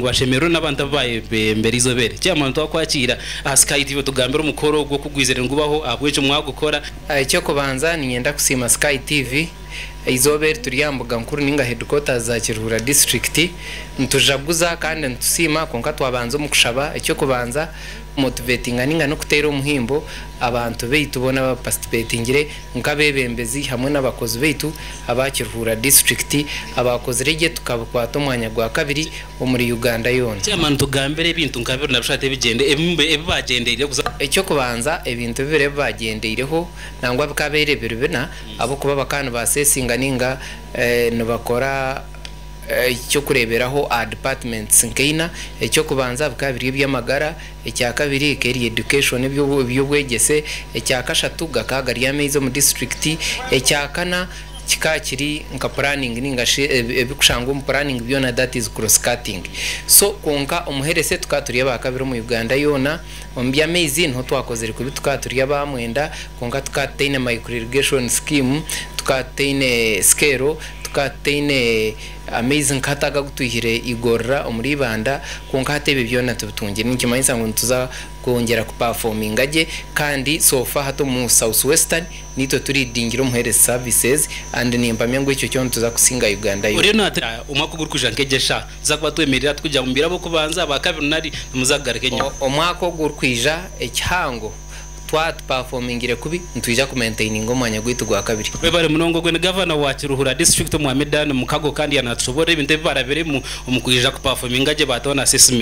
ngu ashemererwe n'abantu abu baayebembera eizooba eri. Kyamara nitwakwakiira aha Sky TV otugambire omukoro ogwo ku gwizire nigubaho, ahabw'enki mwagukora. Eky'okubanza niinyenda kusiima Sky TV. Eizooba eri turi aha mbuga nkuru nainga headquarters za Kiruhura disiturikiti. Nitujaguza kandi nitusiima kwonka twabanza omu kushaba eky'okubanza kumotivetinga nainga n'okuteera omuhimbo abantu baitu boona abaapasitipetingire. Nk'abeebembezi hamwe n'abakozi baitu aba Kiruhura District abaakozire gye tukabikwata omwanya gwa kabiri omuri Uganda yoona. Chairman nitugambira ebintu nka bibiri nabishatu ebigyende ebi ebi baagyendeireho kuza. Eky'okubanza ebintu bibiri ebi baagyendeireho nangwa bikaabaire biri bina ahabw'okuba bakaba nibaaseesinga nainga nibakora eky'okureeberaho aha departments nka ina. Eky'okubanza bikaba biri eby'amagara, Ekya kabiri ka eri education, eby'obwegyese. Ekya kashatu gakaba gari amaizi omu disiturikiti. Ekya kana kikaba kiri nka puraningi nainga shi ebirikushangwa omu puraningi byona that is cross cutting. So kwonka omu heresi tukaba turi aba kabiri omu Uganda yoona. Omu by'amaizi niho twakozire kubi tukaba turi aba mwenda kwonka tukaba tutaine micro irrigation scheme, tukaba tutaine sikeero, tukaba tutaine. Amaizi nk'ata aga agu twihire igorora omuri Ibanda, kwonka hati ebyo byona tibitungire. Nikimanyisa ngu nituza kwongyera kupafominga gye kandi so far hati omu South Western niitwe turidingire omu health services and nimpamya ngu ekyo kyo nituza kusinga Uganda yona. Oriyo naatera omwaka ogurikwija nk'egi eshaaha nituza kuba twemerire hati kwija omu biro ab'okubanza, abakabiri nari nimuza kugaruka enyima? Omwaka ogurikwija ekihango. Twaba tupafomingire kubi, nitwija kumentaininga omwanya gwaitu gwa kabiri. Webare munonga ogwe ni Gavana wa Kiruhura District Omwami Dan Mukago kandi yanatushoborera ebintu ebi barabiremu omu kwija kupafominga gye batoona assessment.